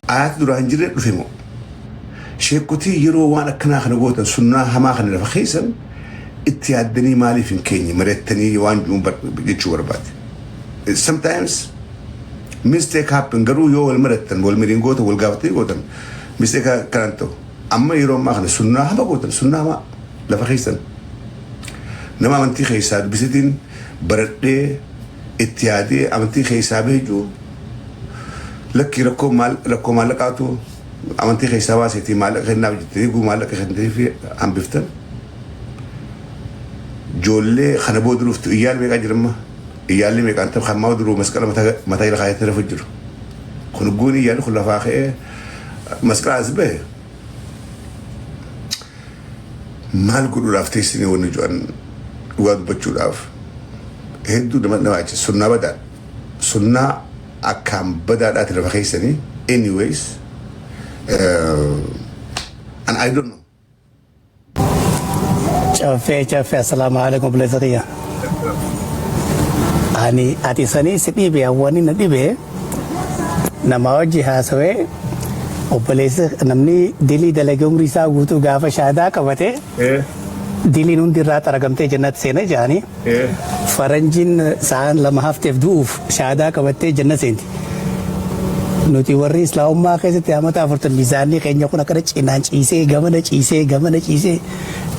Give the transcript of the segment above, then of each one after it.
Aayat duraa hin jirre dhufe moo? Sheekotii yeroo waan akkanaa kana gootan sunnaa hamaa kana lafa keessan itti yaaddanii maaliif hin keenye mari'attanii waan jiruun bar- jechuu barbaade. Sometimes mistake happen garuu yoo wal marattan wal mariin gootan wal gaafatanii gootan mistake akkanaan ta'u. Amma yeroo ammaa kana sunnaa hama gootan sunnaa hamaa lafa keessan nama amantii keessaa dubbisetiin baradhee itti yaadee amantii keessaa beekuu Lakkii rakkoo maal rakkoo maallaqaatu amantii keessaa baaseetii maallaqa kennaaf jettee eeguu maallaqa kennitee fi hambiftan. Joollee kana booda dhuftu iyyaan meeqaa jiramma iyyaalli meeqaan ta'u kan maa duruu masqala mataa ila kaayatee lafa jiru. Kun guun iyyaalli kun lafaa ka'ee masqala as bahe. Maal godhuudhaaf teessinii wanni jo'an dhugaa dubbachuudhaaf hedduu nama nama achi sunnaa badaa Sunnaa akkaan badaadhaati lafa keessanii anyways and I don't know. Caffee caffee assalaamu alaikum obboleessa kiyya. Ani ati sanii si dhibe hawwani na dhibe nama wajji haasawee obboleessa namni dilii dalage umrii isaa guutuu gaafa shaadaa qabate diliin hundi irraa xaragamtee jennatti seena jedhanii. Faranjiin sa'aan lama hafteef du'uuf shahaadaa qabattee janna seenti. Nuti warri Islaamummaa keessatti amata afurtan miizaanni keenya kun akkana cinaan ciisee gamana ciisee gamana ciisee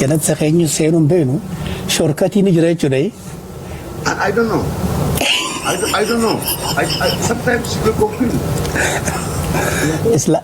janatsa keenya seenuu hin beeknu shorkatii ni jira jechuudha. I, I don't know. I, I don't know. I, I, sometimes you get confused. Isla-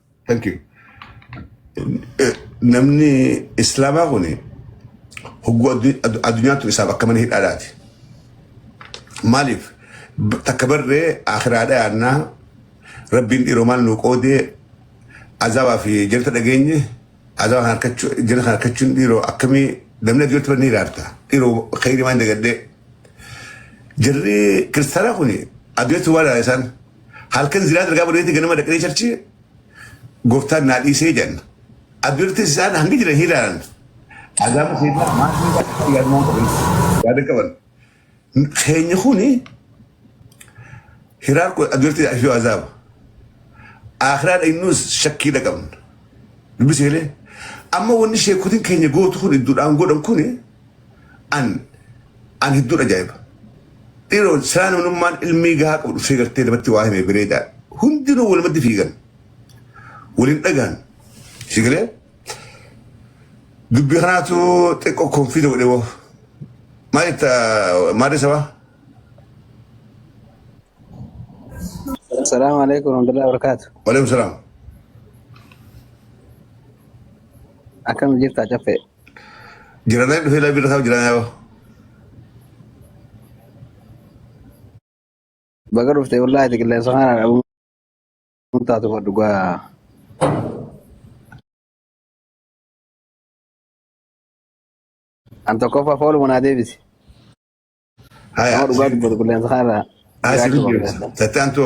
Thank you. Eh, Namni islaamaa kun hogguu addu- addu- addunyaattu isaaf akka mana hidhaadhaati. Maaliif B- takka barree akiraadha yaannaa rabbiin dhiiroo maal nuu qoodee azaabaa fi jirta dhageenye azaabaa kan harkachuu jirta kan harkachuun dhiiroo akkamii namni addunyatti barnee hiraarta dhiiroo khayrii maan dagadhee jirri kiristaanaa kun addunyatti waa dhaala isaan Halkan zinaa dalgaa badeetti ganama dhaqnee charchi gooftaan naa dhiisee jenna. Abdirtis isaan hangi jiran hin ilaalan. Azaaba keenya maatii isaa yaaduu waan qaban yaada qaban. Keenya kuni hiraar kun abdirtis fi azaaba. Akhiraa dhaynus shakkii dhaqabna. Dubbisi galee. Amma wanni sheekutin keenya gootu kun idduudhaan godhan kuni an an hedduun ajaa'iba. Dhiiroo silaa namnummaan ilmii gahaa qabu dhufee gartee namatti waa hime bireedaa hundinuu walumatti fiigan waliin dhagaan si galee dubbii kanaatu xiqqoo konfiida godhee woo maal itti maadii sabaa Assalamu alaikum warahmatullahi wabarakatuh. waliin salaam Akkam jirta caffee? Jira na dhufe labi rakab jira na Baga dhufte wallahi ati qilleensa kana dhabuun taatu fa dhugaa. An tokkoffaa fooluma naa deebisi. Nama Haya dhugaa dubbatu qilleensa kana irraa haisi jiraachuu qabda. video. Tatan to.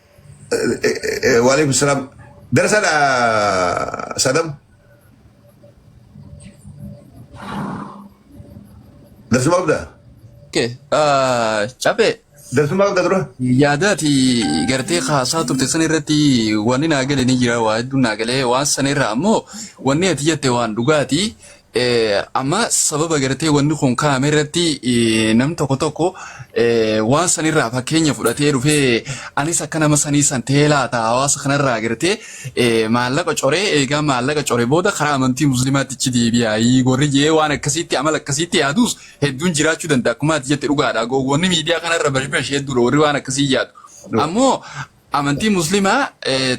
Waalaikum salaam. Darasaadha Sadam. Darsuma qabda? Okay. Uh, Cabe. Darsuma qabda dura? Yaadaati gartee haasaa turte san irratti wanni naa gale ni jira waa hedduun naa galee waan san irraa ammoo wanni ati jette waan dhugaati. Eh, amma sababa gartee wanni kun kaa'ame irratti eh, namni tokko tokko eh, waan sanirraa fakkeenya fudhatee dhufee anis akka nama sanii san ta'ee laata hawaasa kanarraa gartee eh, maallaqa coree eegaa maallaqa coree booda karaa amantii musliimaatti ichi deebi'aayii gorri jee waan akkasiitti amala akkasiitti yaaduus hedduun jiraachuu danda'a akkuma ati jette dhugaadha gowwoonni miidiyaa kanarra bashbash hedduudha warri waan akkasii yaadu ammoo Amantii muslimaa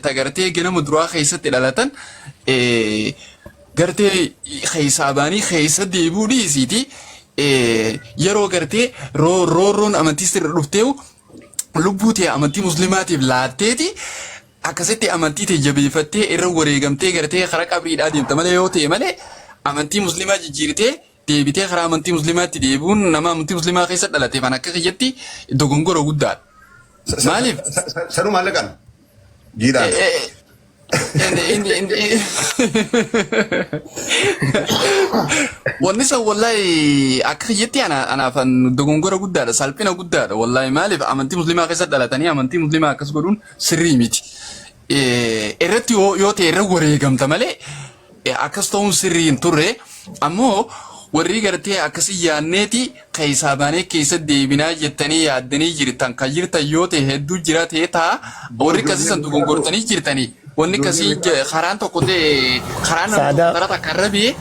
ta gartee ganama duraa keessatti dhalatan gartee keessaa baanii keessa deebi'uu dhiisiiti yeroo gartee roorroon amantii sirra dhufteewu lubbuu tee amantii muslimaatiif laatteeti akkasitti amantii tee jabeeffattee irra wareegamtee gartee karaa qabriidhaa deemta malee yoo ta'e malee amantii muslimaa jijjiirtee deebitee karaa amantii muslimaatti deebi'uun nama amantii muslimaa keessa dhalateef an akka kiyyatti dogongora guddaadha. Sa- sa- Maaliif? sa- sa- sa- Sanuu maallaqaan. Jiidhaan. Eh, eh, in- in- in- in- Wanni san wallahi akka kiyyatti ana- anaaf an dogongora guddaadha salphina guddaadha wallahi maaliif amantii muslimaa keessa dhalatanii amantii muslimaa akkas godhuun sirrii miti. eh, irratti yoo yoo ta'e irra wareegamta malee eh, akkas ta'uun sirrii hin turre ammoo warri gartee akkasii yaadneeti keessaa baanee keessa deebinaa jettanii yaaddanii jirtan kan jirtan yoo ta'e hedduu jira ta'e ta'a Boo warri ijoollee akkasiisan beekaa tokko gongortanii jirtanii wanni ijoollee akkasii beekaa je- karaan tokko ta'e karaan namni tokko Saadaa karaa takka irra bee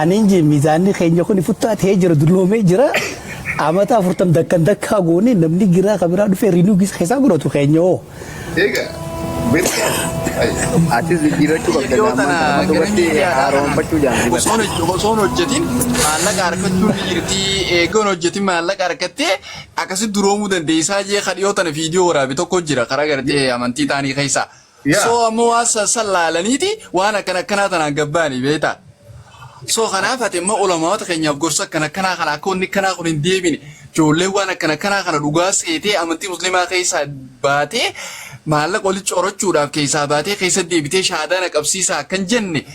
Anin je mizaanni keenya kun futtaa ta'ee jira dulloomee jira. Amata afurtam dakkan dakkaa goone namni giraa kan biraa dhufee riinuu gisa keessaa godhatu keenya hoo. Egaa beektaa atis jijjiirrachuu qabda Viidiyoo amma tana amma gara dubartii miidiyaadhaa haaromfachuu kana jaalatu. osoo hoj- osoo hin hojjetin maallaqa harkachuu ni jirti eegee hin hojjetin maallaqa harkattee akkasi duroomuu dandeessaa jee kan dhiyoo tana viidiyoo waraabe tokko jira karaa gartee amantii taanii keessaa. Yaa. Soo ammoo waan san san laalaniiti waan akkana akkanaa tanaan gabbaanii beektaa. Soo kanaaf ati immoo ulamaawota keenyaaf gorsa akkana akkanaa kana akka wanni akkanaa kun hin deebine ijoollee waan akkana akkanaa kana dhugaa seetee amantii musliimaa keessaa baatee maallaqa walitti corachuudhaaf keessaa baatee keessa deebitee shaadaa na qabsiisaa akkan jenne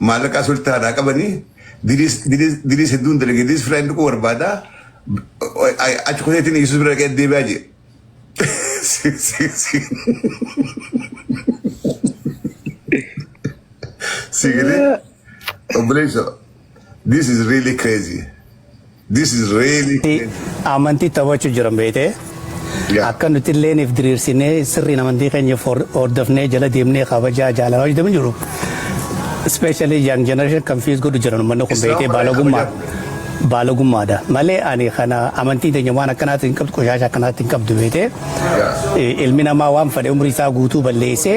Maallaqaa sultaa irraa qabanii diriis diriis diriis hedduun dalage diriis firaa hin dhaquu barbaada. Achi kuteetiin Yesuus bira dhaqee deebi'aa jee. Sii galee obboleessa This is really crazy. This is really Ti- crazy. amantii taphachuu jiran beekte Yeah. akka nuti illee if diriirsinee sirriin amantii keenya for- hordofnee jala deemnee kabajaa jaalalaa hojjetamu jiru. Especially young generation confuse godhu jiran uummanni kun Isaan beekee baay'ee baalogummaa kabajaa. baalogummaadha malee ani kana amantii teenya waan akkanaatti hin qabdu qoshaasha akkanaatti hin qabdu beekte Yeah. ilmi namaa waan fedhe umrii isaa guutuu balleessee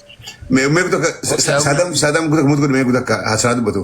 Me me kuta sadam sadam kuta mut kuta me kuta ka hasana dubatu.